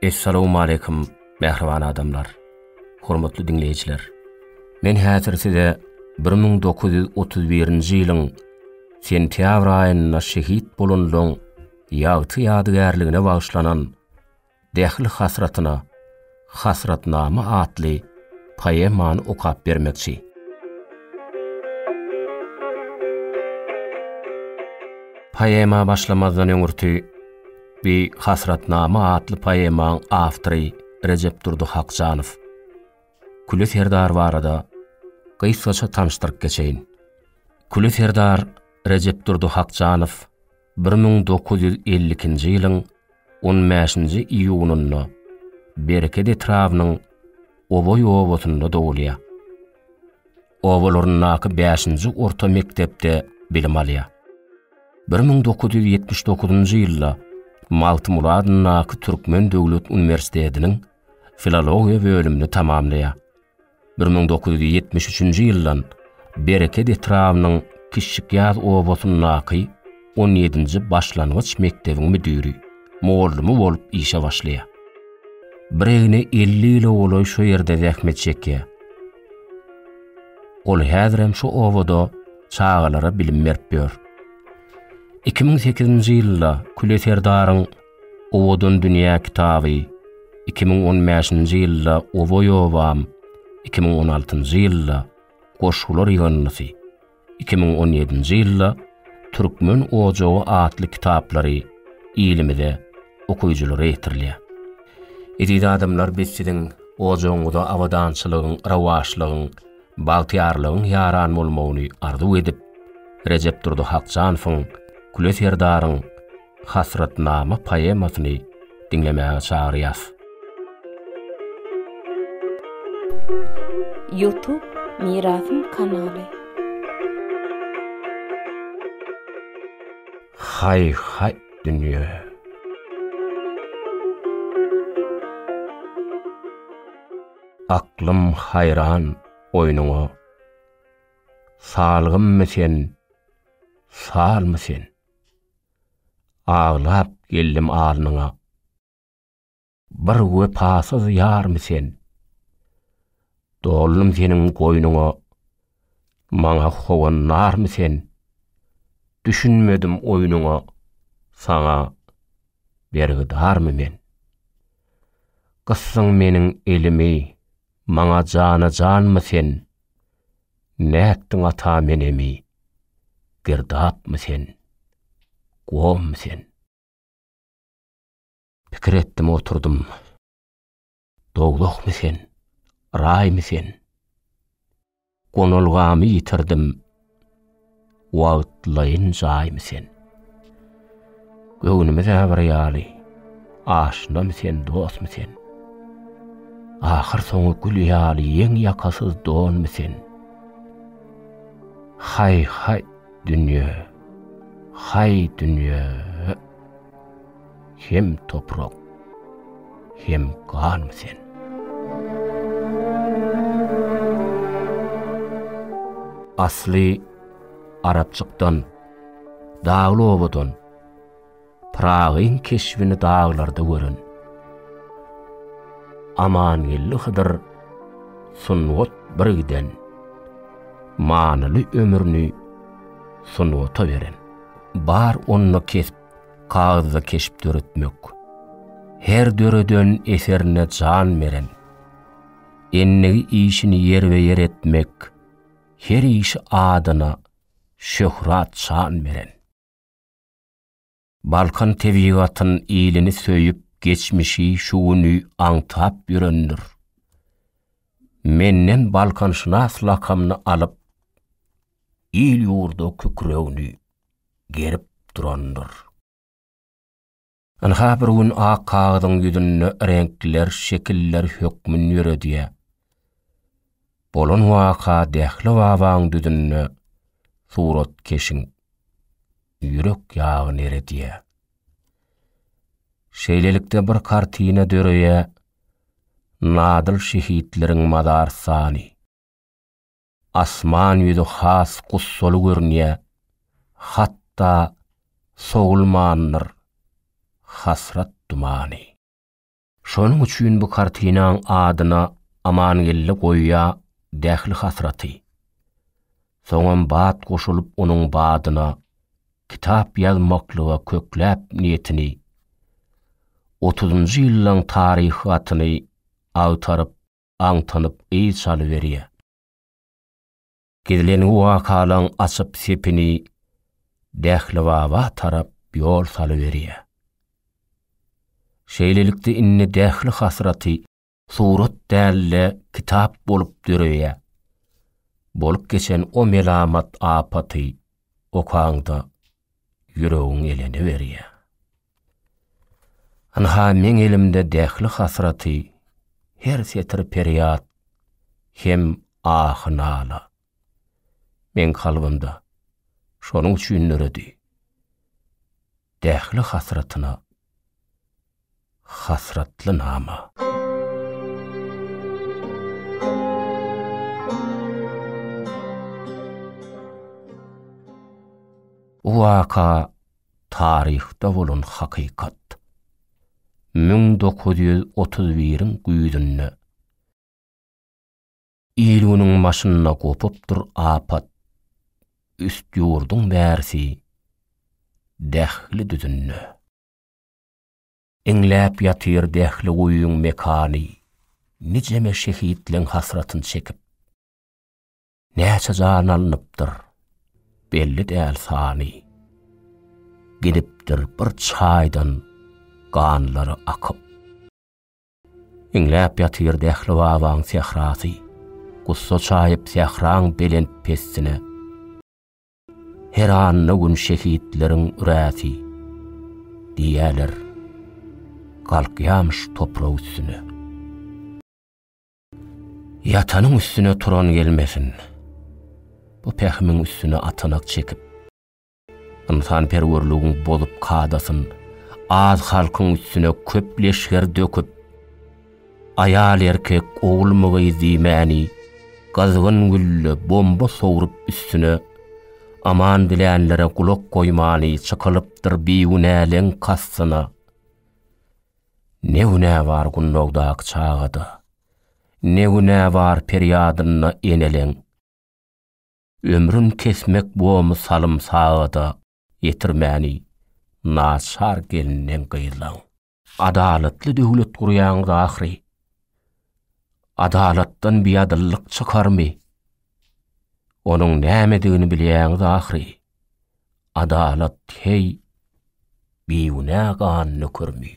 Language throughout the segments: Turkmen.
Essalawmaleýkum mähriban adamlar, hormatly diňleýjiler. Men häzir size bir müň dokuz ýüz otuz birinji ýylyň sentýabr aýynda şehit bolanlaryň ýagty ýadygärligine bagyşlanan Dähli hasratyna Hasratnama atly poemany okap bermekçi. Poema başlamazdan öňürti bi Hasratnama atly poemaň awtory Rejepdurdy Hakjanow Küli serdar barada gysgaça tanyşdyryp geçeýin. Küli serdar Rejepdurdy Hakjanow bir müň dokuz ýüz elli ikinji ýylyň on bäşinji iýunynda Bereket etrabynyň Oboý obasynda dogulýar. Obalaryndaky bäşinji orta mekdepde bilim alýar. Bir müň dokuz ýüz ýetmiş dokuzynjy ýylda Magtymguly adyndaky Türkmen döwlet uniwersitetiniň filologiýa bölümini tamamlaýar. Bir müň dokuz ýüz ýetmiş üçünji ýyldan Bereket etrabynyň Kiçjikýaz obasyndaky on ýedinji başlangyç mekdebiň müdiri, mugallym bolup işe başlaýar. Biregine elli ýyla golaý şu ýerde zähmet çekýär. Ol häzirem şu obada çagalara bilim berip ýör. Iki müň sekizinji ýylda Küle serdaryň Owadan dünýä kitaby iki müň on bäşinji ýylda Oboý obam, iki müň on altynjy ýylda Goşgular ýygyndysy, iki müň on ýedinji ýylda Türkmen ojagy atly kitaplary ilimize okyjylara ýetirilýär. Eziz adamlar biz siziň ojagyňyza abadançylygyň, rowaçlygyň, bagtyýarlygyň ýaran bolmagyny arzuw edip, Rejepdurdy Hakjanowyň, Küle serdaryň, Hasratnama poemasyny diňlemäge çagyrýas. Youtube Mirasym kanaly. Haý haý dünýe. Aklym haýran oýnuňa. Salgymmy sen, salmy sen? Aglap geldim alnyňa. Bir wepasyz ýarmy sen? Doldum seniň goýnuňa. Maňa howan narmy sen? Düşünmedim oýnuňa. Saňa bergidarmy men? Gysdyň meniň elimi. Maňa jana-janmy sen? Nätdiň ata men emi? Girdapmy sen? Gommy sen? Pikir etdim oturdym. Dowlahmy sen? Raýmy sen? Gonalgamy ýitirdim. Wagtlaýyn jaýmy sen? Göwnümiz-ä bir ýaly, Aşnamy sen, dostmy sen? Ahyrsoňy gül ýaly ýeň ýakasyz donmy sen? Haý-haý, dünýe, haý, dünýe-e! Hem toprak, hem gan sen. Asly Arapçykdan, dagly obadan, Pyragyň keşbini daglarda gören Amangeldi Hydyr sungat bir giden, Manyly ömrüni sungata beren. Bar onda kesp, kagyzda keşp döretmek, her döreden eserine jan beren, endigi işini ýerbe-ýer etmek, her işi adyna şöhrat-şan beren. Balkan tebigatyn ilini söýüp geçmişi şu güni aňtap ýörendir. Menden Balkanşynas lakamyny alyp il ýurda kükregini gerip durandyr. Ynha bir gün ak kagyzyň ýüzünde reňkler şekiller hökmün ýöredýär. Bolan waka Dähli babaň düzünde suratkeşiň ýürek ýagyny eredýär. Şeýlelikde bir kartina döreýär, Nadyl şehitleriň mazarsany. Asman ýüzi has gussaly görünýä, hatda sowulmandyr hasrat dumany. Şonuň üçin bu kartinaň adyna Amangeldi goýýa Dähli hasraty. Soňam bat goşulyp onuň badyna kitap ýazmaklyga kökläp niýetini, otuzynjy ýyllaň taryhy gatyny agtaryp, aňtanyp yz çalyberýär. Gizlin wakalaň açyp sepini Dählibaba tarap ýol salyberýär. Şeýlelikde indi Dähli hasraty surat däl-de kitap bolup döreýär. Bolup geçen o melamat apaty okaňda ýüregiň eleniberýär. Ynha meň elimde dähli hasraty, her setir perýat hem ahy-nala. Meň kalbymda, şonuň üçin döredi. Dähli hasratyna hasratly nama. Bu waka taryhda bolan hakykat. Müň dokuz ýüz otuz biriň güýzünde il-günüň başynda gopupdyr apat, üst ýurduň bärsi Dähli düzünde. Iňläp ýatyr Dähli guýyň mekany, nijeme şehitleň hasratyn çekip. Näçe jan alnypdyr, belli däl sany. Gidipdir bir çaýdan ganlary akyp. Iňläp ýatyr Dähli babaň sährasy, Gussa çaýyp sähraň belent-pestine. Her anna gün şehitleriň üräsi, Diýýäler, galkýamyş toprak üstüne. Ýatanyň üstüne turan gelmesin. Bu pähimiň üstüne atanak çekip, ynsanperwerligiň bozup kadasyn, az halkyň üstüne köp leşger döküp, aýal-erkek, ogulmy-gyz diýmäni, gyzgyn gülle, bomba sowrup üstüne, aman dilänlere gulak goýmany çykylypdyr bigünäleň kastyna. Ne güne bar gunnogdak çagada, Ne güne bar perýadynda eneleň. Ömrün kesmek bomy salym sagada, Ýetirmäni naçar gelninden gyzlaň. Adalatly döwlet gurýaňyz ahyry, Adalatdan biadyllyk çykarmy? Onuň nämedigini bilýäňiz ahyry. Adalat heý, bigünä gan nökermi?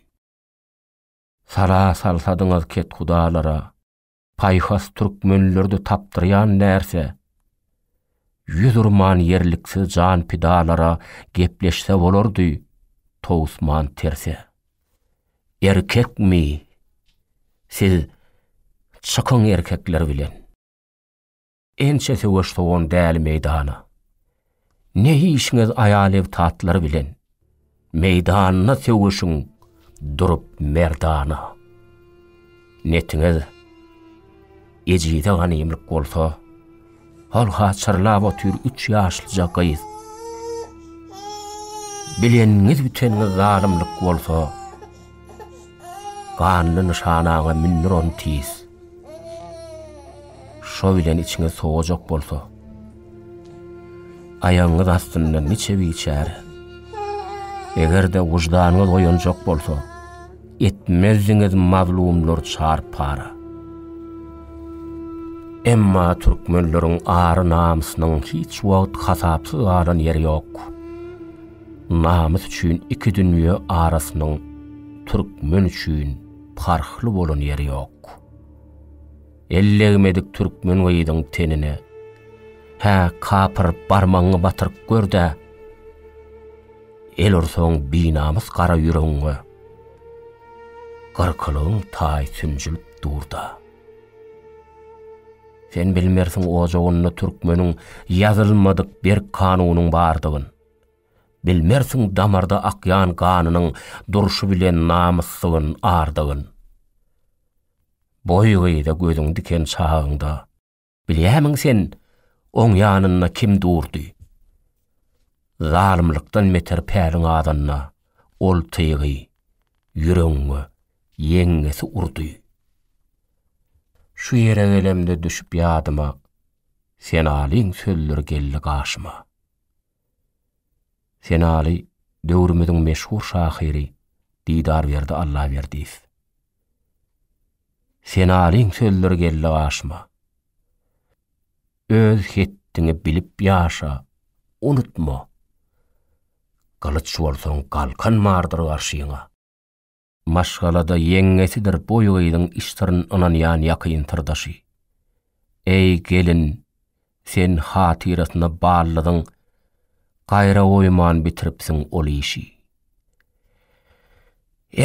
Sala salsadyňyz kethudalara, Paýhas türkmenlerde tapdyrýan närse? Ýüz urman ýerliksiz jan pidalara Gepleşse bolardy, towusman terse. Erkekmi? Siz çykyň erkekler bilen! Ençe söweş sowan däli meýdana. Ne işiňiz aýal ev tatlar bilen. Meýdanda söweşiň durup merdana. Netiňiz ejize ganymlyk bolsa, Halha çyrlap otyr üç ýaşlyja gyz. Bileniniz biteniniz zalymlyk bolsa, Ganly nyşanaňa mündür ony tiz. Şo bilen içiňiz sowajak bolsa, aýagyňyz astyndan niçe biçär. Eger-de wyždanyňyz oýanjak bolsa, etmezdiňiz mazlumlar çar-para. Emma türkmenleriň ary-namysynyň hiç wagt hasapsyz galan ýeri ýok. Namys üçin iki dünýe arasynyň türkmen üçin parhly bolan ýeri ýok. El degmedik türkmen gyzyň tenine, Hä, kapyr, barmagyňy batyryp gör-dä! El ursaň binamys gara ýüregiňe, Gyrkylygyň taýy sünjülip dur-da! Sen bilmersiň ojagynda türkmeniň Ýazylmadyk berk kanunyň bardygyn. Bilmersiň damarda akýan ganynyň durşy bilen namysdygyň, ardygyň. Boý gyza gözüň diken çagyňda, bilýämiň sen, oň ýanynda kim durdy? Zalymlykdan beter päliň adanda, ol tygy, ýüregiňe, ýeňňesi urdy. Şu ýere gelemde düşüp ýadyma, Senalyň sözleri geldi gaşyma. Senaly döwrümiziň meşhur şahyry Didarberdi Allaberdiýew. Senalyň sözleri geldi gaşyma. Öz hetdiňi bilip ýaşa, unutma. Gylyç bolsaň galkan bardyr garşyňa. Maşgalada ýeňňesidir boý gyzyň işdirin ynanýan ýakyn syrdaşy. Eý, gelin, sen hatyrasyna ballydyň, gaýra goýman bitiripsiň ol işi.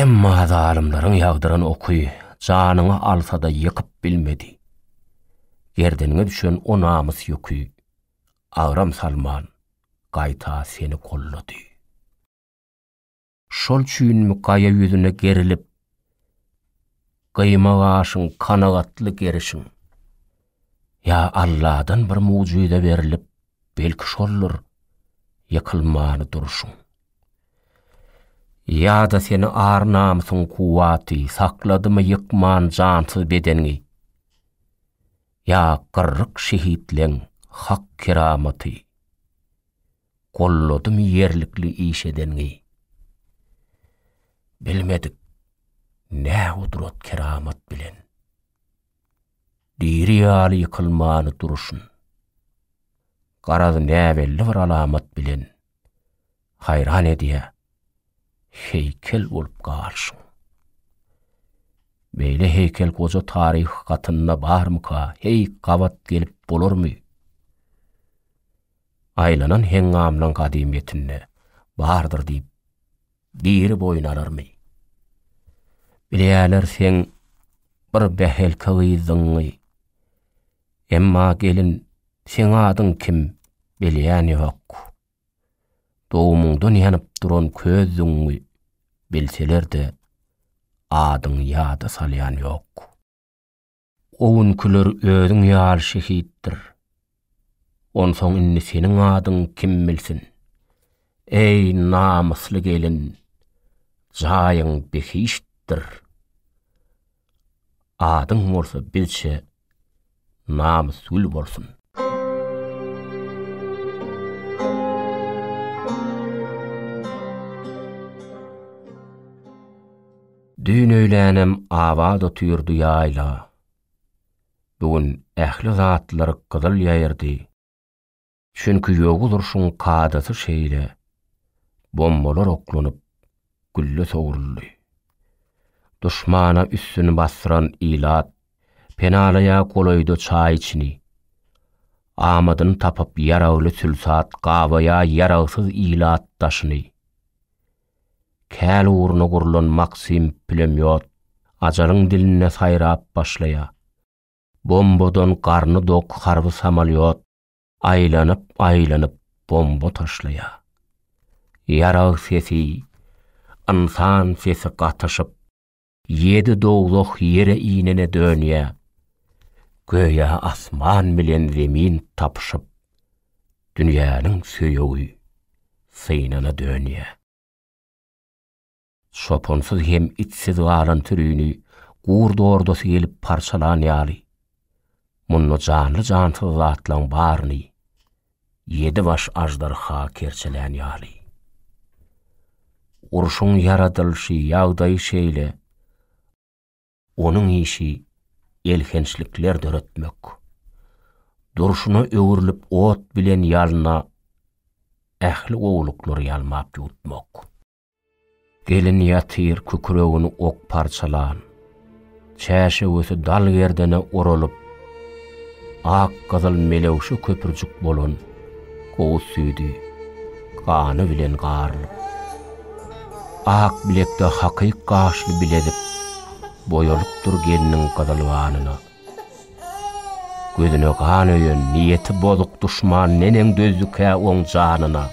Emma zalymlaryň ýagdyran oky janyňy alsa-da ýykyp bilmedi. Gerdeniňe düşen o namys ýüki agram salman, gaýta seni gollady. Şol üçinmi gaýa ýüzüne gerilip, Gyýma gaşyň, kanagatly gerişiň. Ýa Alladan bir mugjyza berilip, Belki şoldur, ýykylmany durşuň. Ýa-da seni ar-namysyň kuwwaty Sakladymy ýykman jansyz bedeniňi? Ýa gyrryk şehitleň hak keramaty? Golladym ýerlikli iş edeniňi. Bilmedik nä gudrat keramat bilen. Diri ýaly ýykylmany duruşyn. Garaz näbelli bir alamat bilen. Haýran edýä heýkel bolup galyşyň. Beýle heýkel goja taryh gatynda barmyka, heý gabat gelip bolarmy? Aýlanan heňňamlaň gadymyýetinde bardyr diýip, diri boýun alarmy? Bilýärler seň bir bähelke gyzdygyňy. Emma, gelin, seň adyň kim, bilýän ýok. Dogumyňdan ýanyp duran közdügiňi bilseler-de, adyňy ýada salýan ýok. O günkiler özüň ýaly şehitdir. Onsoň indi seniň adyň kim bilsin? Eý, namysly gelin, jaýyň behiştdir. Adyň bolsa bizçe Namysgül bolsun. Düýn öýlänem Abat otyrdy ýaýla. Bu gün ähli zatlar gyzyl ýaýyrdy. Çünki ýowuz urşuň kadasy şeýle, bombalar oklanyp, gülle sowruldy. Duşmana üstüni basdyran ilat penalaýar golaýda çaý içini. Amadyny tapyp ýaragly sülsat gabaýar ýaragsyz ilat daşyny. Käl ugruna gurlan Maksim pulemýot Ajalyň dilinde saýrap başlaýar. Bombadan garny dok harby samalýot aýlanyp-aýlanyp bomba taşlaýar. Ýarag sesi, ynsan sesi gatyşyp. Ýedi dowzah ýere inene dönýär. Göýä asman bilen zemin tapyşyp, dünýäniň söýegi synana dönýär. Çopansyz hem itsiz galan sürini gurd ordasy gelip parçalan ýaly, munda janly-jansyz zatlaň baryny Ýedi baş aždarha kerçelän ýaly. Urşuň ýaradylyşy ýagdaýy şeýle, onuň işi elhençlikler döretmek. Durşuna öwrülip ot bilen ýalna ähli gowulyklary ýalmap ýutmak. Gelin ýatyr kükregini ok parçalan, çäşewüsi dal gerdene oralyp, ak-gyzyl melewşe köpürjik bolan gowuz süýdi gany bilen garylyp, ak bilekde hakyk gaşly bilezik boýalypdyr gelniň gyzyl ganyna. Gözüne gan öýen, niýeti bozuk duşman neneň dözdükä oň janyna?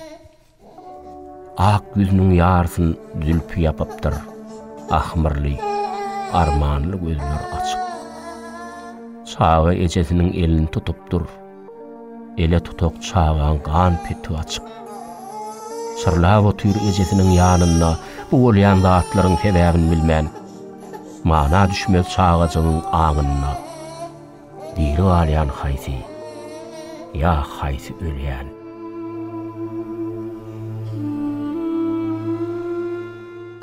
Ak ýüzüniň ýarysyn zülpi ýapypdyr ahmyrly, armanly gözleri açyk. Çaga ejesiniň elini tutupdyr, ele tutak çagaň gan peti açyk. Çyrlap otyr ejesiniň ýanynda bu bolýan zatlaryň sebäbini bilmän. Mana düşmez çagajygyň aňynda. Diri galýan haýsy, ýa haýsy ölýän?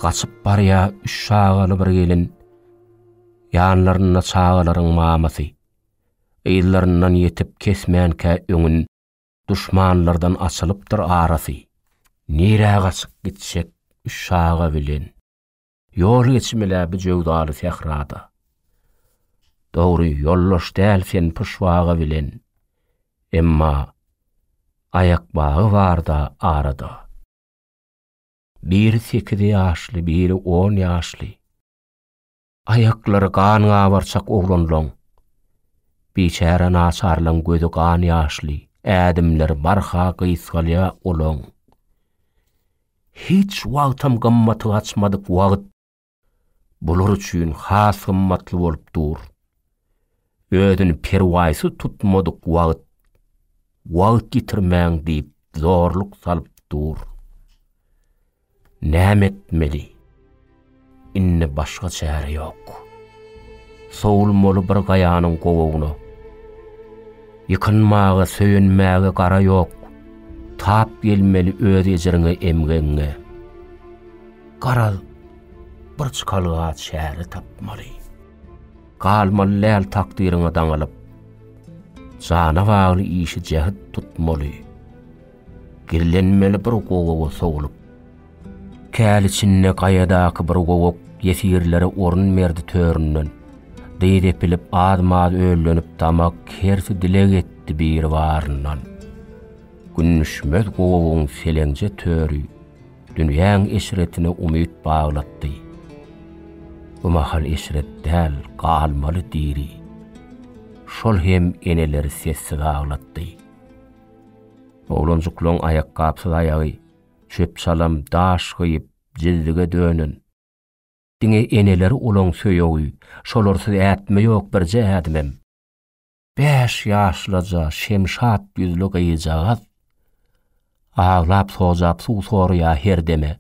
Gaçyp barýa üç çagaly bir gelin, Ýanlarynda çagalaryň mamasy. Yzlaryndan ýetip kesmänkä öňün, Duşmanlardan açylypdyr arasy. Nirä gaçyp gitjek üç çaga bilen? Ýol geçim-le bu jöwzaly sährada. Dogry, ýoldaş däl sen pyşbaga bilen, emma aýak bagy bar-da arada. Biri sekiz ýaşly, biri on ýaşly. Aýaklary gan gabarçak oglanlaň. Biçäre naçarlaň gözi gan ýaşly, ädimleri barha gysgalýar olaň. Hiç wagtam gymmaty gaçmadyk wagt bular üçin has gymmatly bolup dur. Özüni perwaýsyz tutmadyk wagt, wagt ýitirmäň diýip zorluk salyp dur. Näme etmeli? Indi başga çäre ýok. Sowulmaly bir gaýanyň gowagyna. Ýykynmaga, söýenmäge gara ýok. Tap gelmeli öz ejriňe, emgegiňe. Garaz, bir çykalga çäre tapmaly. Galmaly lal takdyryňa daňylyp. Jana bagly işi jäht tutmaly. Gizlenmeli bir gowaga sowlup. Käl içinde gaýadaky bir gowak ýesirlere orun berdi töründen. Dyz epilip az-maz öllenip damak hersi dileg etdi biri baryndan. Gündüşmez gowagyň seleňje töri dünýäň eşretine umyt baglatdy. Bu mahal eşret däl galmaly diri. Şol hem eneleri sessiz aglatdy. Oglanjyklaň aýakgapsyz aýagy çöp-çalam, daş gyýyp, jildige dönen. Diňe eneleri olaň söýegi, şolarsyz ätme ýok birje ädimem. Bäş ýaşlaja Şemşat ýüzli gyzjagaz aglap-sojap suw soraýar her deme.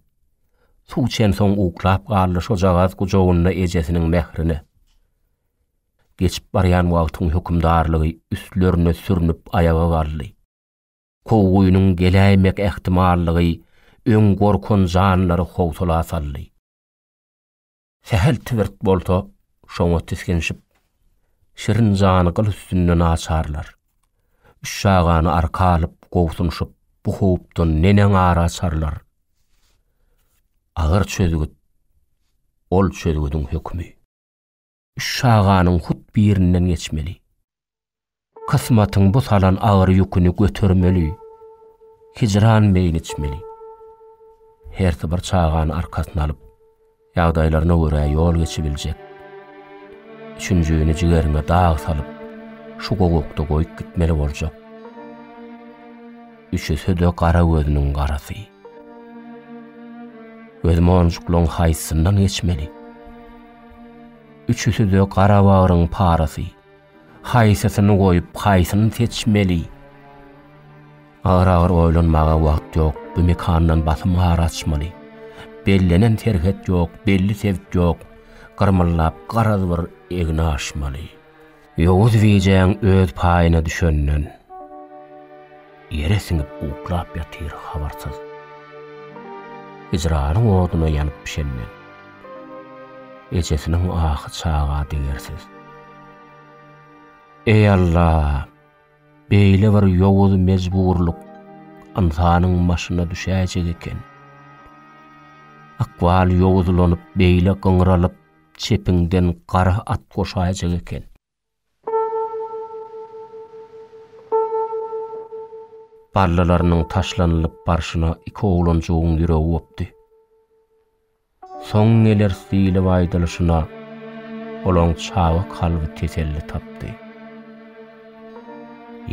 Suw içensoň uklap galdy şojagaz gujagynda ejesiniň mährine. Geçip barýan wagtyň hökümdarlygy üstlerine sürnüp aýaga galdy. Kowgynyň geläýmek ähtimallygy öň gorkan janlary howsala saldy. Sähel Tibirt bolsa şoňa tisginşip, şirin jany gyl üstünde naçarlar. Üç çagany arka alyp, gobsunşyp, bu howpdan neneň ar açarlar? Agyr çözgüt, ol çözgüdiň hökümi. Üç çaganyň hut birinden geçmeli. Kysmatyň bu salan agyr ýüküni götermeli. Hijran beýni içmeli. Hersi bir çagany arkasyna alyp, ýagdaýlaryna görä ýol geçibiljek. Üçünjini jigeriňe dag salyp, şu gowakda goýup gitmeli boljak. Üçüsi-de gara gözüniň garasy. Biz monjuklaryň haýsyndan geçmeli? Üçüsi-de gara bagryň parasy. Haýsysyny goýup, haýsyny seçmeli? Agyr-agyr oýlanmaga wagt ýok, bu mekandan basym ar açmaly. Bellenen serhet ýok, belli sebt ýok, gyrmyldap garaz bir egni aşmaly. Ýowuz bijäň öz paýyna düşenden, ýere siňip uklap ýatyr habarsyz. Hijranyň oduna ýanyp bişenden, ejesiniň ahy çaga degersiz. Eý Alla, beýle bir ýowuz mejburlyk ynsanyň başyna düşäýjek eken. Ykbal ýowuzlanyp beýle gyňralyp, çepiňden gara at goşaýjak eken. Ballalarynyň taşlanylyp barşyna iki oglanjygyň ýüregi gopdy. Soň geleris diýlip aýdylyşyna, olaň çaga kalby teselli tapdy.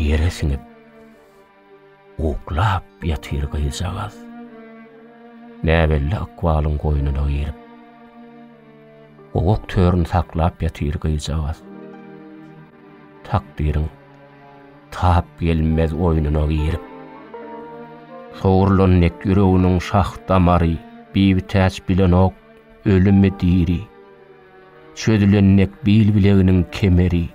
Ýere siňip. Uklap ýatyr gyzjagaz. Näbelli ykbalyň goýnuna girip. Gowak törün saklap ýatyr gyzjagaz. Takdyryň tap gelmez oýnuna girip. Sogrulan dek ýüreginiň şah damary, Bibitäç bilenok, ölümi-diri. Çözülen dek bil-bileginiň kemeri,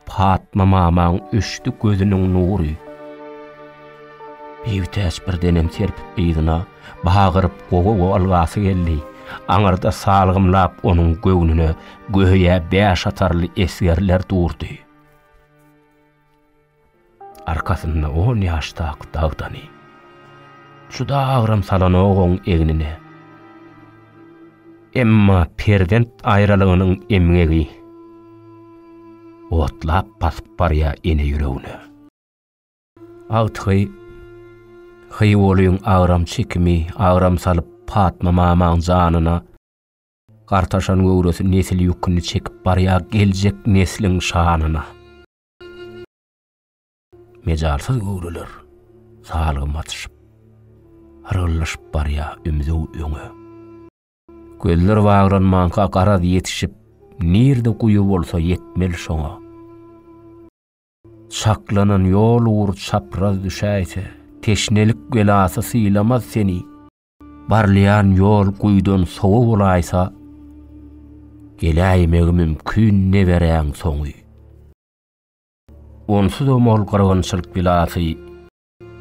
Patma mamaň öçdi gözüniň nury. Biýutäç birdenem Serpik gyzyna bagyryp gowy-gowy algasy geldi. Aňyrda salgymlap onuň göwnüne göýä bäş atarly esgerler durdy. Arkasynda on ýaşdaky dagdany. Juda agram salanok oň egnine. Emma perzent aýralygynyň emgegi otlap basyp barýar ene ýüregine. Agtygy Hyýulyň agram çekimi agram salyp Patma mamaň janyna gartaşan göwresi nesil ýüküni çekip barýar geljek nesliň şanyna. Mejalsyz göwreler salgym atyşyp, Hyrgyllyşyp barýa ümzüw öňe. Gözler baglanmanka garaz ýetişip, Nirde guýy bolsa ýetmeli şoňa. Çaklanan ýol ugur çapraz düşäýse, Teşnelik belasy sylamaz seni. Barlaýan ýol guýudan sowa bolaýsa, geläýmegi mümkin neberäň soňy. Onsuzam ol gyrgynçylyk bilasy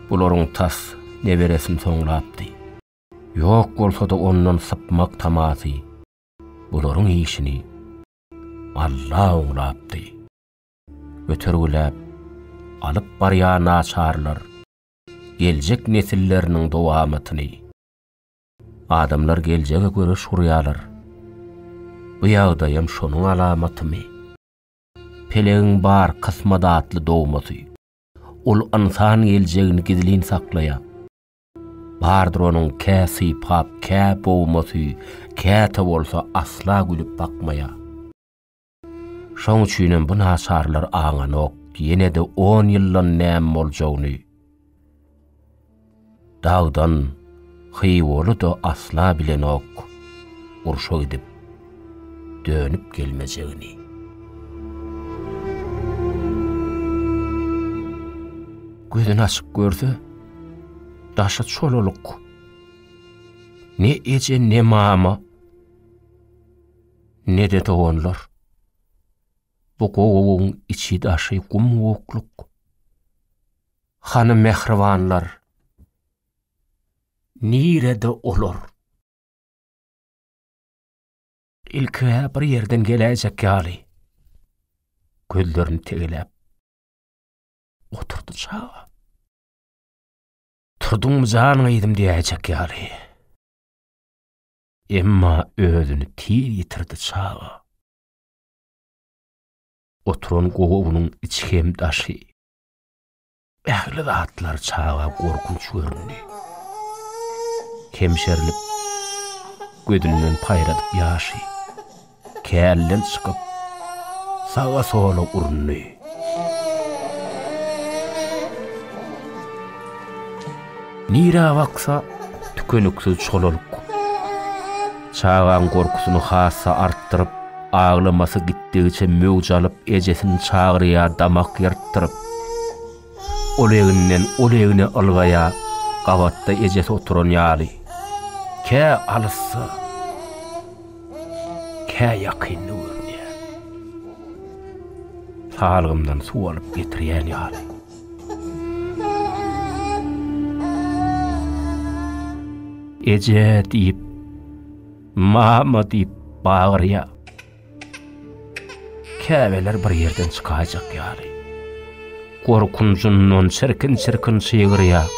bularyň tas neberesini soňlapdy. Ýok bolsa-da ondan sypmak tamasy bularyň işini Alla oňlapdy. Götergiläp alyp barýar naçarlar. geljek nesilleriniň dowamatyny. Adamlar geljege göreş gurýarlar. Bu ýagdaýam şonuň alamatymy? Pelegiň bar kysmadatly dogmasy. Ol ynsan geljegini gizlin saklaýar. Bardyr onuň kä sypap, kä bogmasy, käte bolsa asla gülüp bakmaýar. Şoň üçinem bu naçarlar aňanok, ýene-de on ýyldan näme boljagyny. Dagdan Hywoly-da asla bilenok, urşa gidip, dönüp gelmejegini. Gözüni açyp görse, daşy çolalyk. Ne eje, ne mama. ne-de doganlar. Bu gowagyň içi-daşy gum-gukluk. Hany mähribanlar? Nirede olar? Ilki-hä bir ýerden geläýjek ýaly, gözlerini tegeläp oturdy çaga. Turduňmy jan gyzym diýäýjek ýaly. Emma özüni tiz ýitirdi çaga. Oturan gowunyň içi hem daşy. Ähli zatlar çaga gorkunç göründi. Kemşerilip, gözünden paýradyp ýaşy. kärden çykyp, saga-sola urundy. Nirä baksa, tükeniksiz çolalyk. Çagaň gorkusyny has-da artdyryp, aglamasy gitdigiçe möwç alyp, ejesini çagyrýar, damak ýyrtdyryp. Ol egninden ol egne ylgaýa gabatda ejesi oturan ýaly. Kä alysda, kä ýakynda görünýär. Salgymdan suw alyp getirýän ýaly. Eje diýip, mama diýip bagyrýar. Käbeler bir ýerden çykaýjak ýaly, gorkunjyndan çirkin-çirkin çygyrýar.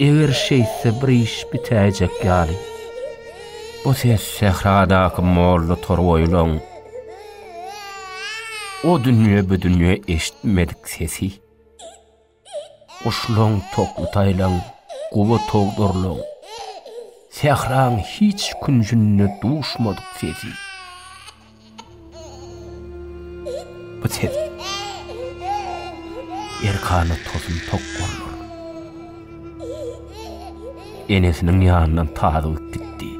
Eger şeýtse bir iş bitäýjek ýaly. Bu ses sähradaky molla torboýlaň o dünýe-bu dünýe eşitmedik sesi. Guşlaň tokly taýlaň, gowa togdurlaň, Sähraň hiç künjünde duşmadyk sesi. Bu ses erkana tosun tok bollar. Enesiniň ýanyndan tazyk gitdi.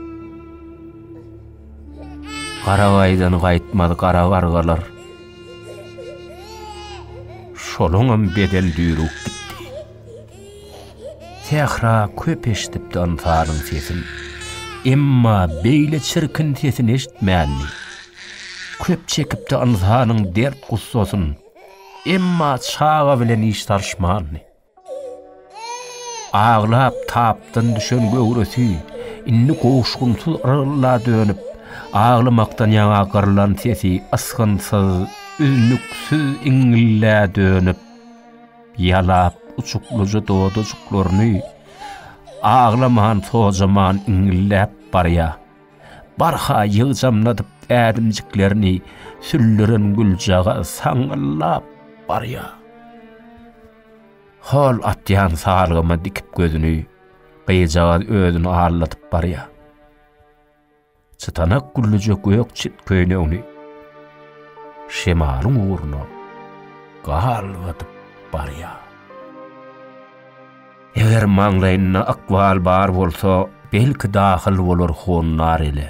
Garabaýdan gaýtmaz gara gargalar. Şolaňam beden düýrüp gitdi. Sähra köp eşidipdi ynsanyň sesin. Emma beýle çirkin sesini eşitmändi. Köp çekipdi ynsanyň dert-gussasyn. Emma çaga bilen iş salyşmandy. Aglap, tapdan düşen göwresi indi goşgynsyz yrgylda dönüp, aglamakdan ýaňa gyrlan sesi ysgynsyz, üznüksiz iňňillä dönüp, ýalap, uçuklyja dodajyklaryny aglaman-sojaman iňňilläp barýar. Barha ýygjamladyp ädimjiklerini süllüren güljagaz saňňyllap barýar. Hol atýan salgyma dikip gözüni, gyzjagaz özüni alladyp barýar. Çytanak güllüje gök çit köýnegini şemalyň ugruna galgadyp barýar. Eger maňlaýynda ykbal bar bolsa, belki dahyl bolar honlar ele.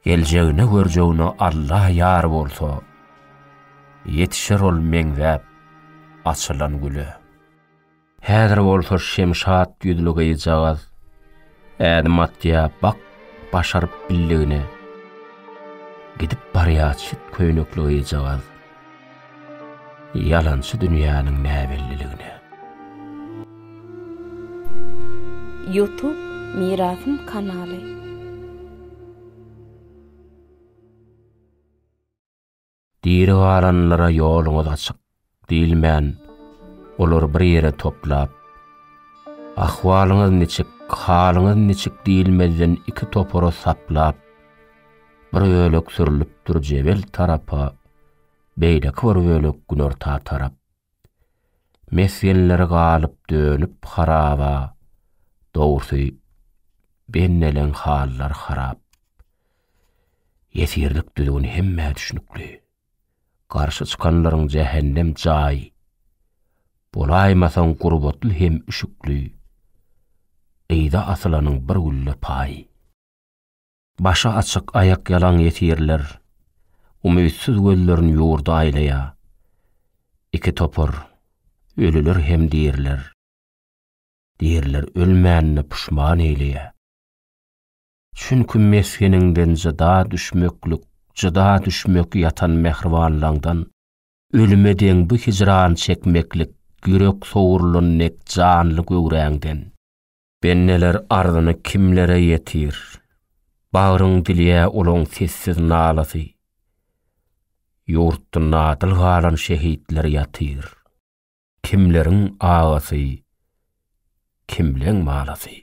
Geljegine-görjegine Alla ýar bolsa, ýetişer ol meňzäp açylan güle. Häzir bolsa şemşat ýüzli gyzjagaz ädim atýar bak başaryp billigine. Gidip barýar çit köýnekli gyzjagaz. Ýalançy dünýäniň näbelliligine. Youtube Mirasym kanaly. Diri galanlara ýoluňyz açyk diýilmän, olary bir ýere toplap, ahwalyňyz niçik, halyňyz niçik diýilmezden iki topara saplap, Bir bölek sürlüpdir jebel tarapa, beýleki bir bölek günorta tarap. Mesgenleri galyp dönüp haraba, dogrusy benneleň hallar harap. Ýesirlik düzgüni hemmä düşnükli. Garşy çykanlaryň jähennem jaý. Bolaýmasaň gurbatly hem üşükli. Gyýda asylanyň bir gülle paýy. Başy açyk, aýakýalaň ýesirler umytsyz gözlerini ýurda aýlaýar. Iki topar, ölüler hem diriler. Diriler ölmänini puşman eýleýär. Çünki mesgeniňden jyda düşmeklik, jyda düşmek ýatan mähribanlaňdan ölüme deň bu hijran çekmeklik ýürek sowrulan dek janly göwräňden. Benneler arzyny kimlere ýetir? Bagryň dilýä olaň sessiz nalasy. Ýurtda nadyl galan şehitler ýatyr. Kimleriň agasy, kimleň malasy.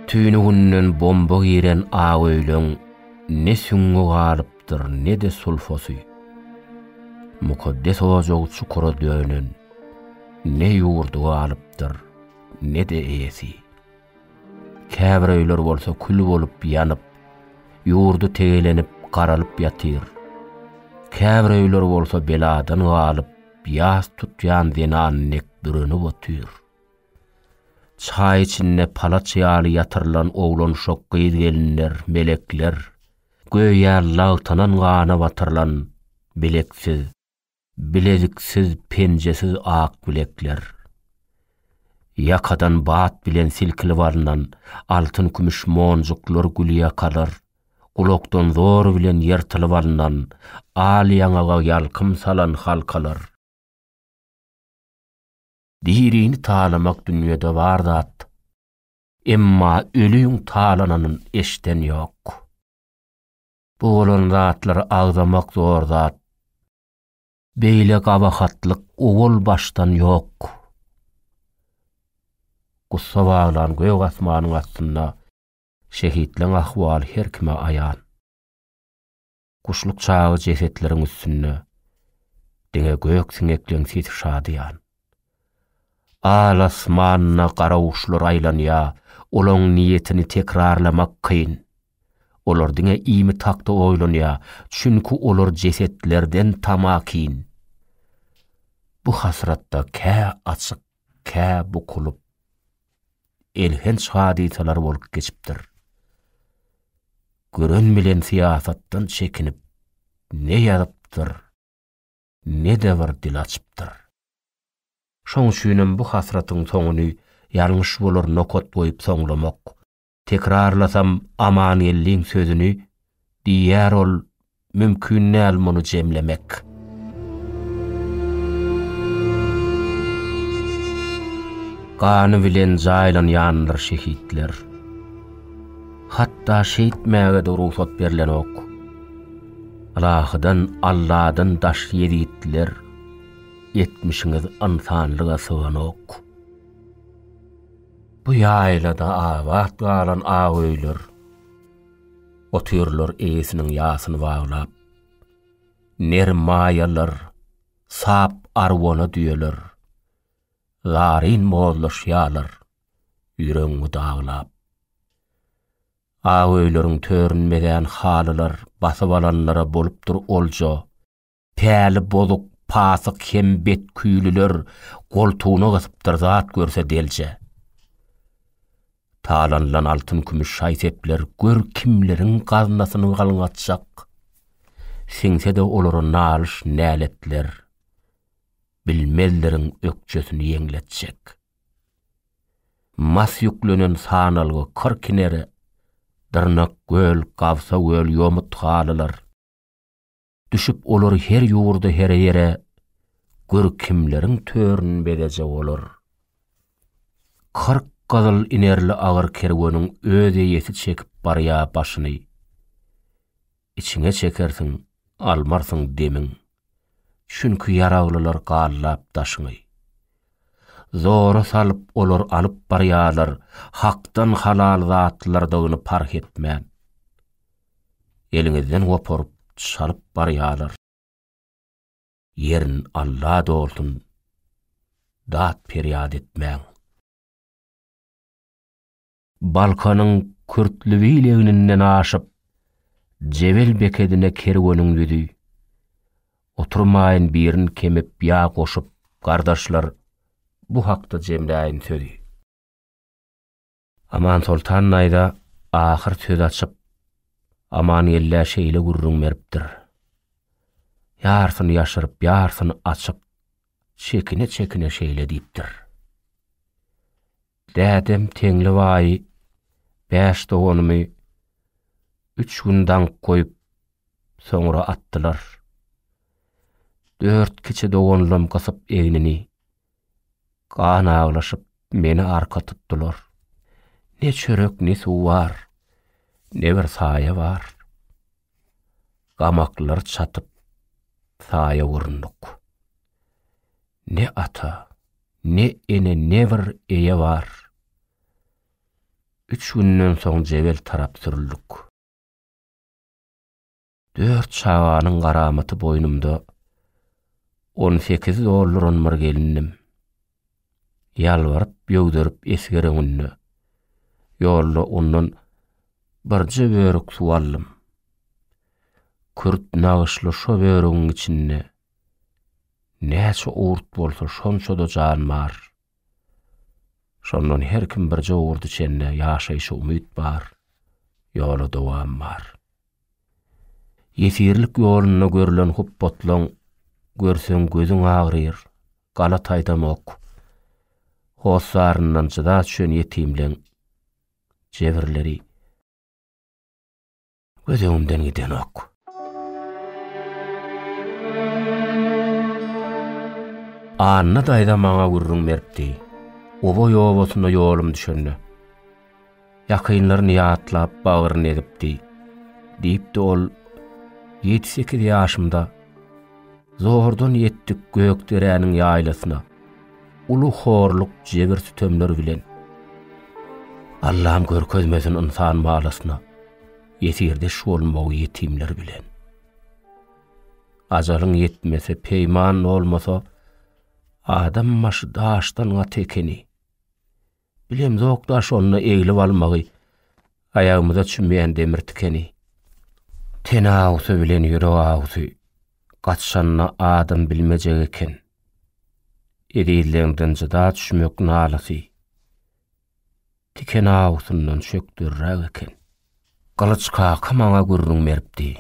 Tüýnüginden bomba giren ak öýleň ne süňňi galyp, Ýokdur ne-de sulfosy. Mukaddes ojag çukura dönen, Ne ýurdy galypdyr, ne-de eýesi. Käbir öýler bolsa kül bolup ýanyp, Ýurdy tegelenip, garalyp ýatyr. Käbir öýler bolsa beladan galyp, Ýas tutýan zenan dek bürenip otyr. Çaý içinde palaç ýaly ýatyrylan oglanuşak gyz-gelinler, melekler, Göýä lagtanan gana batyrylan bileksiz, bileziksiz, penjesiz ak bilekler. Ýakadan bat bilen silkilip alnan altyn-kümüş monjuklar gülýakalar, gulakdan zor bilen ýyrtylyp alnan al ýaňaga ýalkym salan halkalar. Dirini talamak dünýede bar zat. Emma ölüň talananyn eşden ýok. Bu bolan zatlary agzamak zor zat. Beýle gabahatlyk owal başdan ýok. Gussa baglan gök asmanyň astynda şehitleň ahwaly her kime aýan. Guşluk çagy jesetleriň üstünde Diňe gök siňekleň sesi şadyýan. Al asmanda gara guşlar aýlanýa, Olaň niýetini tekrarlamak kyn. Olar diňe iýmit hakda oýlanýa, Çünki olar jesetlerden tamakin. Bu hasratda kä açyk Kä bukulyp, elhenç hadysalar bolup geçipdir. Gören bilen syýasatdan çekinip, ne ýazypdyr, ne-de bir dil açypdyr. Şoň üçinem bu hasratyň soňuny ýalňyş bolar nokat goýup soňlamak Tekrarlasam Amangeldiň sözüni, diýýär ol, mümkin däl muny jemlemek. Gany bilen jaýlanýandyr şehitler. Hatda şeýtmäge-de rugsat berlenok. Ylahydan, Alladan daş ýezitliler, etmişiňiz ynsanlyga syganok. Bu ýaýlada abat galan ak öýler, Otyrlar eýesiniň ýasyny baglap. Ner maýalar, sap arwana düýeler, Zaryn mozlaşýarlar ýüregiňi daglap. Ak öýleriň törün mezän halylar Basyp alanlara bolupdyr olja. Päli bozuk, pasyk hem betküýlüler goltugyna gysypdyr zat görse delje. Talanylan altyn-kümüş şaý-sepler gör kimleriň gaznasyny galňatjak. Siňse-de olara nalyş-näletler, bilmezleriň ökjesini ýeňletjek. Mas ýüklenen sanalgy kyr kinere, dyrnak göl, gabsa göl ýomut halylar. Düşüp olar her ýurda her ýere, Gör kimleriň törün bezejek olar. Kyrk gyzyl inerli agyr kerweniň Öz eýesi çekip barýa başyny. Içiňe çekersiň, almarsyň demiň, Çünki ýaraglylar gallap daşyňy. Zora salyp olar alyp barýalar Hakdan halal zatlardygyny parh etmän. eliňizden goparyp çalyp barýalar. Ýerin Alla dolsun dat perýat etmäň. Balkanyň Kürtliwil egninden aşyp Jebel bekedine kerweniň düzi. Oturmaýyn birin kemip ýa goşup gardaşlar bu hakda jemläýin sözi. Amansoltan naýza ahyr söz açyp, Amangeldä şeýle gürrüň beripdir. Ýarsyny ýaşyryp, ýarsyny açyp, çekine-çekine şeýle diýipdir. Dädem Teňli baýy bäş doganymy üç gün daňyp goýup, soňra atdylar. Dört kiçi doganlam gysyp egnini, Gan aglaşyp, meni arka tutdular. Ne çörek, ne suw bar, ne bir saýa bar. Gamaklary çatyp, saýa urundyk. Ne ata, ne ene, ne bir eýe bar. Üç günden soň Jebel tarap sürüldik. Dört çaganyň garamaty boýnumda, On sekiz dolduran bir gelindim. Ýalbaryp, ýöwderip esger öňünde, Ýolda ondan birje börük suw aldym. Kürt nagyşly şo börügiň içinde, Näçe urt bolsa şonça-da jan bar. Şondan her kim birje urt içende Ýaşaýşa umyt bar, ýola dowam bar. Ýesirlik ýolunda görlen hupbatlaň görseň gözüň agryr, gala taýdanok. Hossaryndan jyda çüen ýetimleň jebirleri göz öňümden gidenok. Anna daýza maňa gürrüň beripdi. Oboý obasyna ýolum düşende. ýakynlaryny ýatlap bagryny egipdi. Diýipdi ol, Ýedi-sekiz ýaşymda zordan ýetdik Gökderäniň ýaýlasyna, uly horluk, jebir-sütemler bilen. Allam görkezmesin ynsan balasyna, ýesirdeş bolmagy ýetimler bilen. Ajalyň ýetmese, peýman bolmasa, adam başy daşdan gaty ekeni. Bilemzok-da şonda eglip almagy aýagymyza çümýän demir tikeni. Ten agusy bilen ýürek agusy gatyşanda adam bilmejek eken. Ezizleňden jyda düşmek nalasy tiken agusyndan çökderräk eken. Gylyç kaka maňa gürrüň beripdi.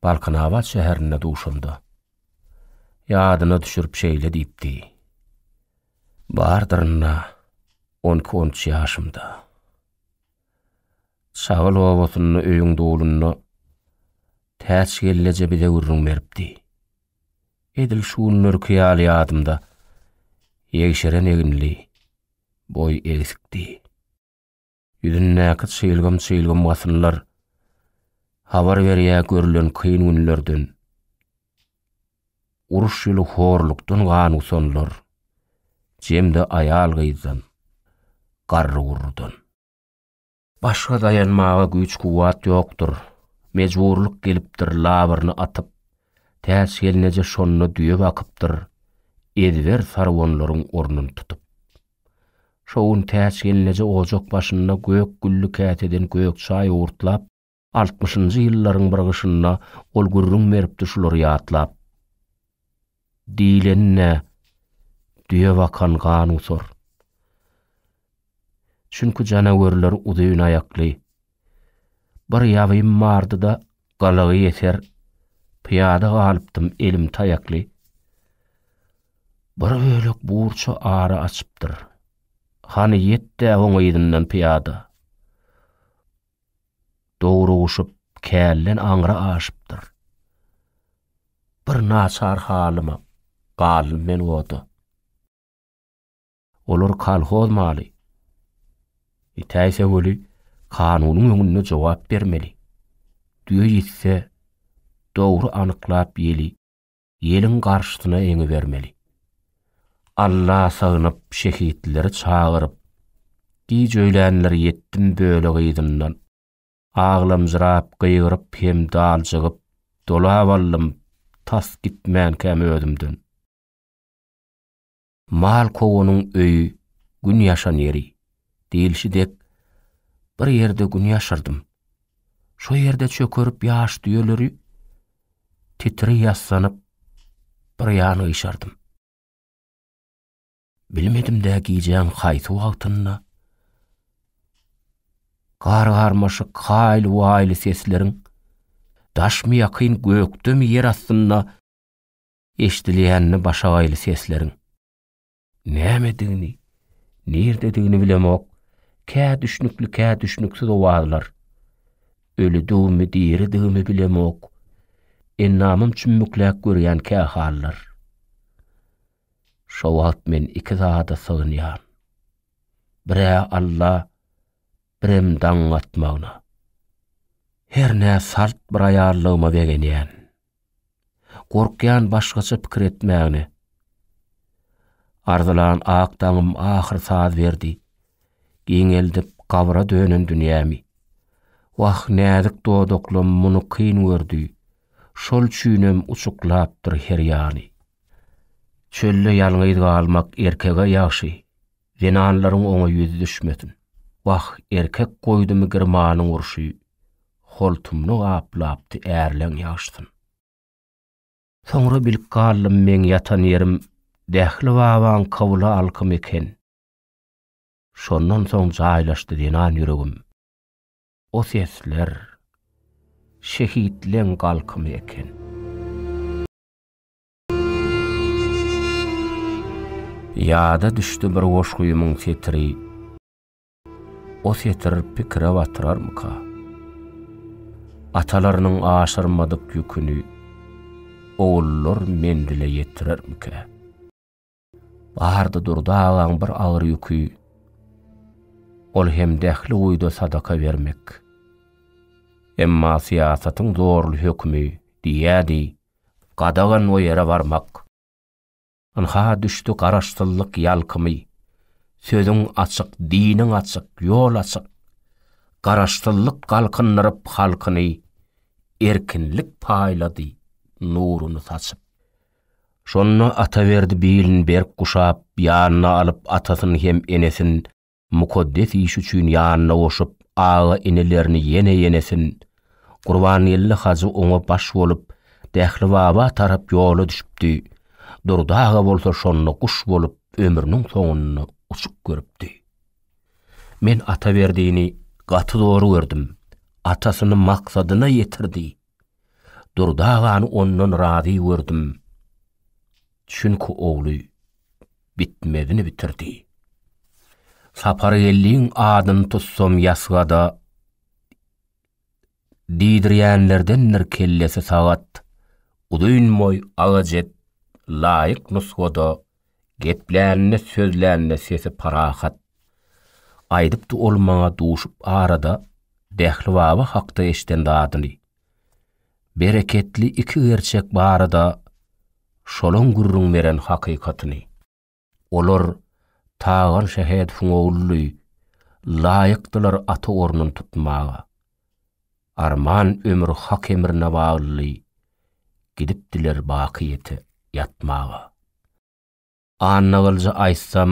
Balkanabat şäherinde duşanda. Ýadyna düşürip şeýle diýipdi. Bardyryn-da, on iki-on üç ýaşymda. Çagyl obasynda öýüň dulunda Täç gelneje bize gürrüň beripdi. Edil şu günlerki ýaly ýadymda, ýegşeren eginli, boýy egsikdi. Ýüzündäki çyýlgym-çyýlgym wasyllar habar berýä görlen kyn günlerden. Uruş ýyly horlukdan gan gusanlar, jemde aýal-gyzdan, garry-gurrudan. Başga daýanmaga güýç-kuwwat ýokdur, mejburlyk gelipdir labyryny atyp, täç gelneje şonda düýe bakypdyr, ezber sarwanlaryň ornuny tutup. Şo gün Täçgelneje ojak başynda gök gülli käseden gök çaý owurtlap, altmyşynjy ýyllaryň bir gyşynda ol gürrüň beripdi şulary ýatlap. Diýleni-nä, düýe bakan gan gusar. Çünki janawerler uzyn aýakly, Bir ýabym bardy-da, galagy ýeser, pyýada galypdym elim taýakly. Bir bölek burça ara açypdyr. Hany ýet-dä oň yzyndan pyýada. Dogruguşyp, kälden aňry aşypdyr. Bir naçar halyma galdym men oda. Olar kolhoz maly. Itäýse weli, kanunyň öňünde jogap bermeli. Düýe ýitse, dogry anyklap ýeli, ýeliň garşysyna eňibermeli. Alla sygynyp, şehitleri çagyryp, giç öýlänler ýetdim bölek yzyndan. Aglamjyrap, gygyryp hem daljygyp, dolap aldym tas gitmänkäm özümden. Mal kowanyň öýi, gün ýaşan ýeri diýilşi dek, bir ýerde gün ýaşardym. Şo ýerde çökerip ýaş düýeleri titri ýassanyp bir ýan gyşardym. Bilmedim-dä gijäň haýsy wagtynda gar-garmaşyk haýly-waýly sesleriň daşmy ýakyn gökdemi ýer astynda eşidilýänini başagaýly sesleriň. Nämedigini, nirdedigini bilemok, kä düşnükli, kä düşnüksiz owazlar. Ölidigimi, diridigimi bilemok, endamym çümmükläp görýän kä hallar. Şo wagt men iki zada sygynýan. Bir-ä Alla, birem daň atmagyna. Hernä salt bir aýallygyma begenýän. Gorkýan başgaça pikir etmägine. Arzylan ak daňym ahyr saz berdi. Giňeldip gabra dönen dünýämi. Wah, näzik dodaklym muny kyn gördi. Şol üçinem uçuklapdyr her ýany. Çölde ýalňyz galmak erkege ýagşy. Zenanlaryň oňa ýüzi düşmesin. Wah, erkek goýdumy girmanyň urşy, Holtumny gaplapdy ärleň ýagşysyn. Soňra bilip galdym meň ýatan ýerim Dähli babaň kybla alkymy eken. Şondan soň jaýlaşdy zenan ýüregim, O sesler şehitleň galkymy eken. Ýada düşdi bir goşgymyň setiri, O setir pikire batyrarmyka? Atalarynyň aşyrmadyk ýüküni, Ogullar menzile ýetirermikä? Bardy Durdy agaň bir agyr ýüki, ol hem Dähli guýuda sadaka bermek. Emma syýasatyň zorly hökümi diýýädi, gadagan o ýere barmak. Ynha düşdi garaşsyzlyk ýalkymy, sözüň açyk, diniň açyk, ýol açyk. Garaşsyzlyk galkyndyryp halkyny, erkinlik paýlady nuruny saçyp. Şonda Ataberdi bilini berk guşap, ýanyna alyp atasyny hem enesin mukaddes iş üçin ýanyna goşup aga-inelerini ýene enesin Gurbangeldi hajy oňa baş bolup Dählibaba tarap ýola düşüpdi, Durdy aga bolsa şonda guş bolup ömrüniň soňunda uçup görüpdi. Men Ataberdini gaty zor gördüm, atasyny maksadyna ýetirdi. Durdy agany ondan razy gördüm. Çünki ogly bitmezini bitirdi. Sapargeldiň adyny tutsam ýasgada diýdirýänlerdendir kellesi sagat, uzyn boý agajet laýyk nusgada Geplände, sözlände sesi parahat. Aýdypdy ol maňa duşup arada Dähli baba hakda eşden zadyny. Bereketli iki gerçek barada şolaň gürrüň beren hakykatyny. Olar Tagan Şähedowyň ogludy, laýykdylar ata ornun tutmaga. Arman ömür hak emrine bagly Gidipdiler bakyýete ýatmaga. Annagylyja aýtsam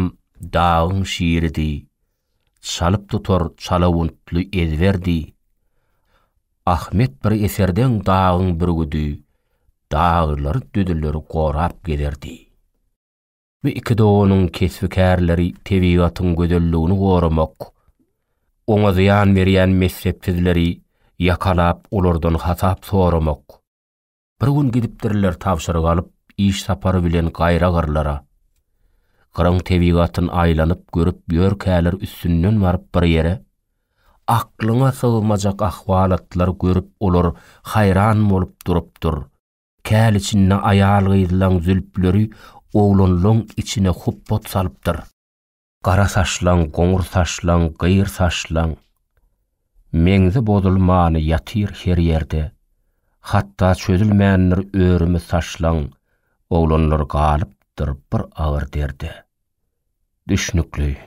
dagyň şiridi, Çalyp tutar çalawuntly ezberdi. Ahmet bir eserdeň dagyň bürgüdi, Daglary-düzüleri gorap gezerdi. Bu iki doganyň kesbi-kärleri tebigatyň gözelligini goramak, oňa zyýan berýän messepsizleri ýakalap olardan hasap soramak. Bir gün gidipdirler tabşyryk alyp iş sapary bilen gaýra gyrlara. Gyryň tebigatyn aýlanyp görüp ýörkäler üstünden baryp bir ýere, aklyňa sygmajak ahwalatlar görüp olar haýran bolup durupdyr. Käl içinde aýal-gyzlaň zülpleri oglanlaň içine hupbat salypdyr. Gara saçlaň, goňur saçlaň, gyr saçlaň. Meňzi bozulmany ýatyr her ýerde. Hatda çözülmändir örümi saçlaň, oglanlar galypdyr bir agyr derde. Düşnükli.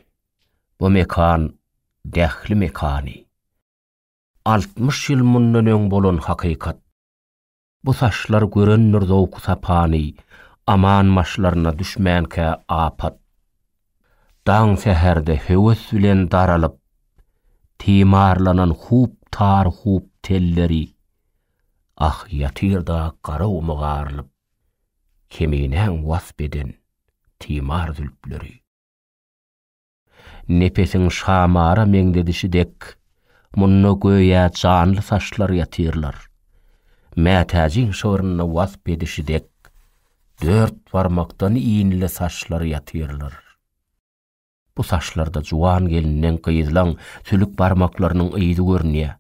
Bu mekan Dähli mekany. Altmyş ýyl mundan öň bolan hakykat. Bu saçlar görendir zowky-sapany, Aman başlaryna düşmänkä apat. Daň säherde höwes bilen daralyp, Timarlanan hub tar hub telleri, Ah, ýatyr-da gara gumy garylyp, Keminäň wasp eden timar zülpleri. Nepesiň şamara meňzedişi dek, munda göýä janly saçlar ýatyrlar. Mätäjiň şygrynda wasp edişi dek, dört barmakdan inli saçlar ýatyrlar. Bu saçlarda juwan gelniň, gyzlaň sülük barmaklarynyň yzy görünýär.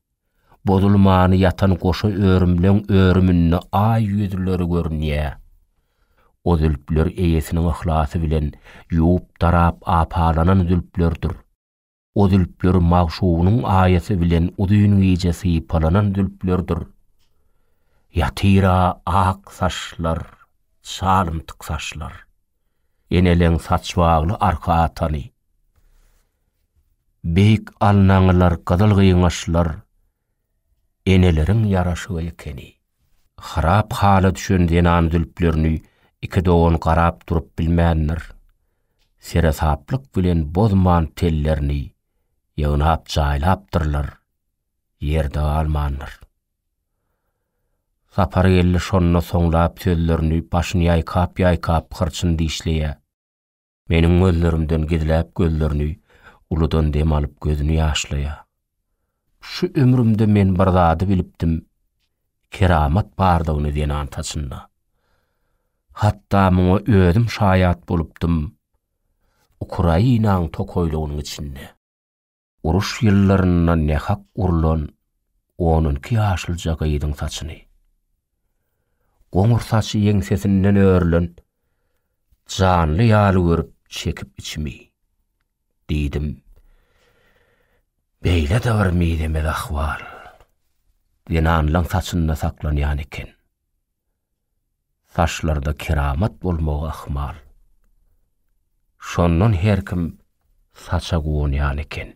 Bozulmany ýatan goşa örümleň örüminde aý ýüzleri görünýä. O zülpler eýesiniň yhlasy bilen ýuwup-darap apalanan zülplerdir. O zülpler magşugynyň aýasy bilen uzyn gije sypalanan zülplerdir. Ýatyr-a ak saçlar, çalymtyk saçlar. Eneleň saçbagly arka atany. Beýik alnaňylar gyzyl gyňaçlar eneleriň ýaraşygy ekeni. Harap hala düşen zenan zülplerini iki dogan garap durup bilmändir. Seresaplyk bilen bozman tellerini ýygnap jaýlapdyrlar, ýerde galmandyr. Sapargeldi şonda soňlap sözlerini başyny ýaýkap-ýaýkap hyrçyn dişleýär. Meniň gözlerimden gizläp gözlerini, uludan dem alyp gözüni ýaşlaýar. Şu ömrümde men bir zady bilipdim, keramat bardygyny zenan saçynda. Hatda muňa özüm şaýat bolupdym, Ukrainaň tokaýlygynyň içinde. Uruş ýyllarynda nähak urlan on iki ýaşlyja gyzyň saçyny, goňur saçy ýeňsesinden örülen janly ýaly görüp çekip içimi, diýdim. Beýle-de bir mizemez ahwal zenanlaň saçynda saklanýan eken. Saçlarda keramat bolmagy ahmal. Şondan her kim saça guwanýan eken.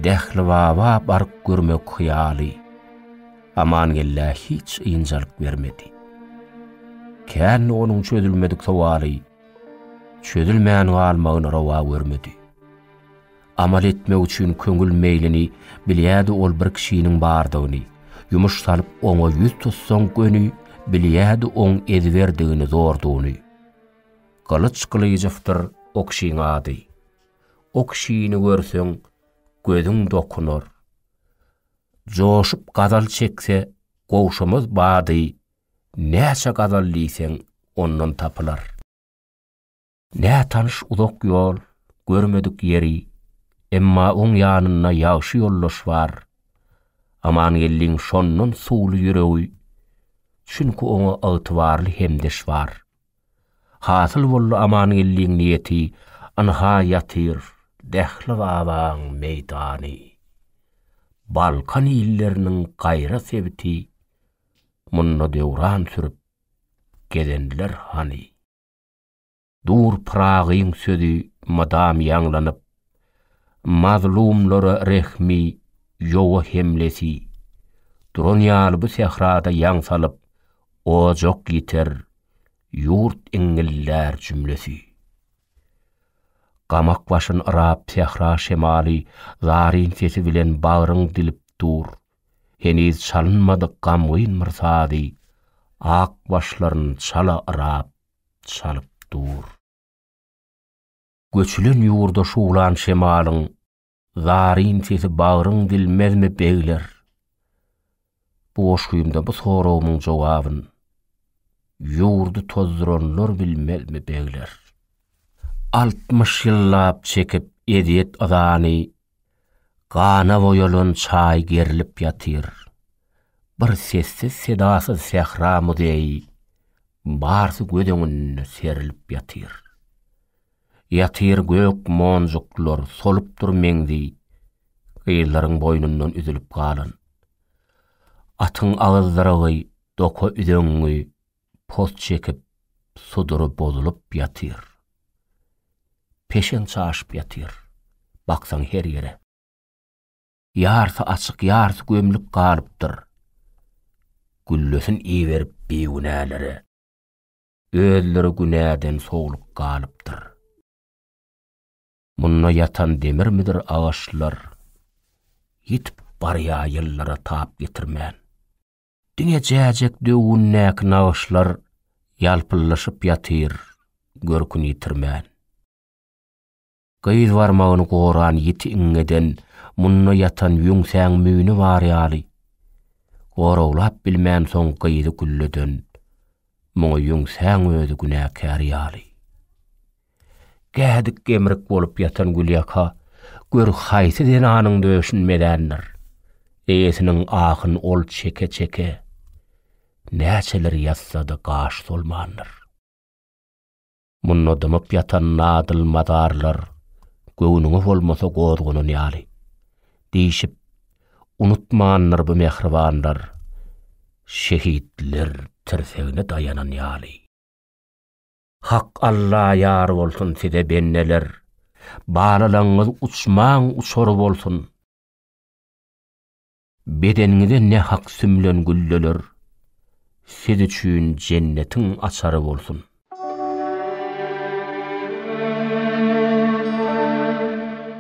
Dählibaba baryp görmek hyýaly Amangellä hiç ynjalyk bermedi. Kände onuň çözülmedik sowaly çözülmän galmagyny rowa görmedi. Amal etmek üçin köňül meýlini, Bilýärdi ol bir kişiniň bardygyny. Ýumuş salyp oňa ýüz tutsaň göni, Bilýärdi oň ezberdigini, zordugyny. Gylyç Gylyjowdyr o kişiň ady. O kişini görseň, gözüň dokunar. Joşup gazal çekse, gowşamaz bady, Näçe gazal diýseň, ondan tapylar. Nätanyş uzak ýol, görmedik ýeri, emma oň ýanynda ýagşy ýoldaş bar. Amangeldiň şondan suwly ýüregi, çünki oňa ygtybarly hemdeş bar. Hasyl boldy Amangeldiň niýeti, ynha ýatyr Dähli babaň meýdany. Balkan illeriniň gaýra sebiti, munda döwran sürüp gezenler hany. Dur Pyragyň sözi mydam ýaňlanyp, Mazlumlara rehmi, ýowa hemlesi. Duran ýaly bu sährada ýaň salyp, Ojak ýiter, ýurt iňňillär jümlesi. Gamak başyn yrap sähra şemaly Zaryn sesi bilen bagryn dilip dur, Heniz çalynmadyk gamgyn bir sazy Ak başlaryn çala yrap, çalyp dur. Göçülen ýurda şuwlan şemalyň zaryn sesi bagryň dilmezmi begler? Bu goşgymda bu soragymyň jogabyn ýurdy tozduranlar bilmezmi begler? Altmyş ýyllap çekip ezýet-yzany Gana boýalan çaý gerilip ýatyr. Bir sessiz-sedasyz sähra muzeýi, barsy göz öňünde serilip ýatyr. Ýatyr gök monjuklar, solup dur meňzi, gyzlaryň boýnundan üzülip galan. Atyň agyzdyrygy, doka üzeňňi. poz çekip, sudury bozulyp ýatyr. Peşeň çaşyp ýatyr, baksaň her ýere. Ýarsy açyk, ýarsy gömlük galypdyr. Güllesin iberip bigünälere. Özleri günäden sowlup galypdyr. Munda ýatan demirmidir agaçlar, ýitip barýar ýyllara tap getirmän. Diňe jäjek döwündäki nagyşlar ýalpyldaşyp ýatyr görküni ýitirmän. Gyz barmagyny goran ýiti iňňeden munda ýatan ýüňsäň müýni bar ýaly. Goraglap bilmänsoň gyzy gülleden, muňa ýüňsäň özi günäkär ýaly. Gädik-gemrik bolup ýatan gülýaka gör haýsy zenanyň döşüni mezändir. Eýesiniň ahyn ol çeke-çeke näçeler ýassady gaş solmandyr. Munda dymyp ýatan nadyl mazarlar göwnüňe bolmasa gozganan ýaly. Diýşip, unutmandyr bu mähribanlar şehitler tirsegine daýanan ýaly. Hak Alla ýar bolsun size bendeler. Balalaňyz uçmaň uçar bolsun. Bedeniňize ne hak sümlen gülleler. Siz üçin jennetiň açary bolsun.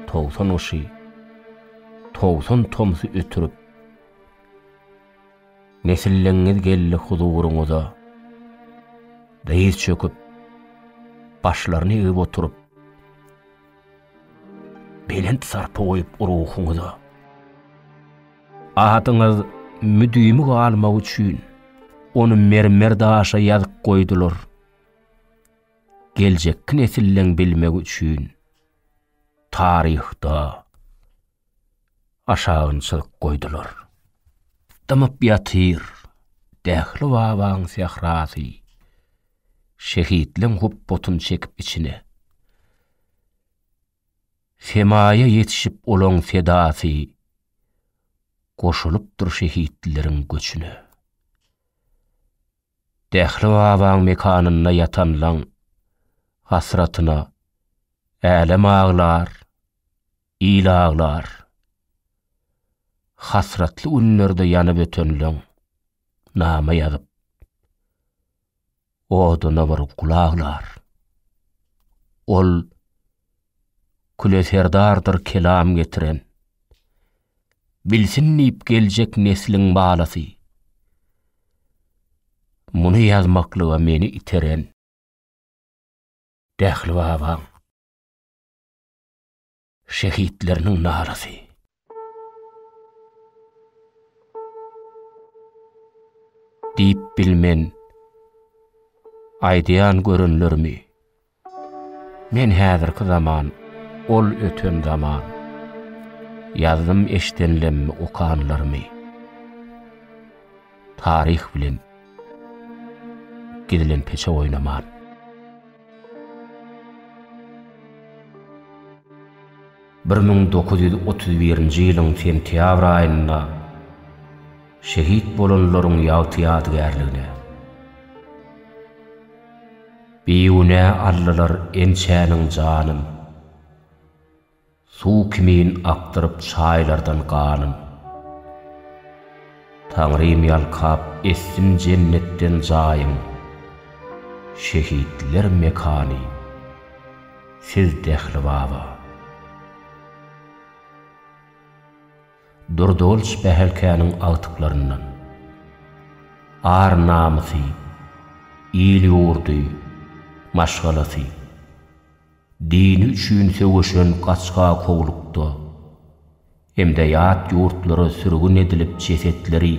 Togsan gyşy, togsan tomsy ötürip. Nesilleňňiz geldi huzuryňyza. Dyz çöküp, başlaryny egip oturyp, belent sarpa goýup ruhuňyza. Adyňyz müdimi galmagy üçin, ony mermer daşa ýazyp goýdular. Geljekki nesilleň bilmegi üçin, taryhda. aşagynçylyk goýdular. Dymyp ýatyr Dähli babaň sährasy, şehitleň hupbatyn çekip içine. Semaýa ýetişip olaň sedasy, goşulypdyr şehitleriň göçüne. Dähli babaň mekanynda ýatanlaň hasratyna älem aglar, Il aglar. Hasratly günlerde ýanyp ötenleň name ýazyp. Oduna bir gul aglar. Ol küle serdardyr kelam getiren. Bilsin diýip geljek nesliň balasy. Muny ýazmaklyga meni iteren. Dähli babaň. şehitleriniň narasy. Diýip bilmen, aýdýan görenlerimi, Men häzirki zaman, ol öten zaman, Ýazdym eşdenlemmi okanlarymy. Taryh bilen gidilen peçe oýnaman. Bir müň dokuz ýüz otuz birinji ýylyň sentýabr aýynda şehit bolanlaryň ýagty ýadygärligine, Bigünä aldylar ençäniň janyn. Suw kimin akdyryp çaýlardan ganym. Taňrym ýalkap etsin jennetden jaýyň. Şehitler mekany siz Dehli baba. Durdulç Behelkäniň agtyklaryndan. Ar namysy, il ýurdy, maşgalasy. Dini üçin söweşen gaçga kowlukda hem-de ýat ýurtlara sürgün edilip jesetleri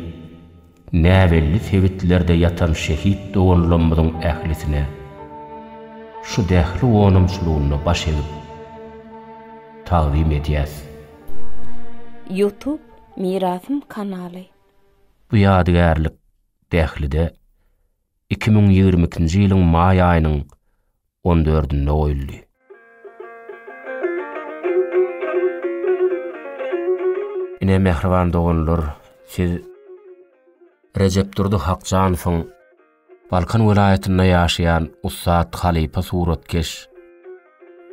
näbelli sebitlerde ýatan şehit doganlamyzyň ählisine şu dähli onamçylygynda baş egip tagzym edýäs. Youtube Mirasym kanaly. Bu ýadygärlik dählide iki müň ýigrimi ikinji ýylyň maý aýynyň on dördünde goýuldy. Ine, mähriban doganlar, siz Rejepdurdy Hakjanowyň Balkan welaýatynda ýaşaýan ussat halypa suratkeş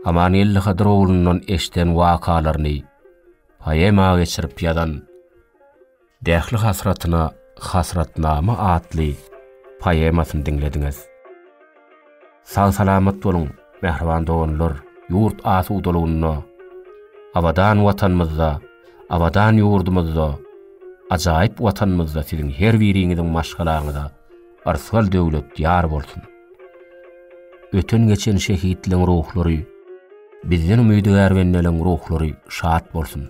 Amangeldi Hydyrogulundan eşden wakalaryny poema geçirip ýazan Dähli hasratyna Hasratnama atly poemasyny diňlediňiz. Sag-salamat boluň, mähriban doganlar, ýurt asudalygynda, abadan Watanymyzda, abadan ýurdumyzda, ajaýyp Watanymyzda siziň her biriňiziň maşgalaňyza yrsgal döwlet ýar bolsun! Öten-geçen şehitleň ruhlary, bizden umydygär bendeleň ruhlary şat bolsun!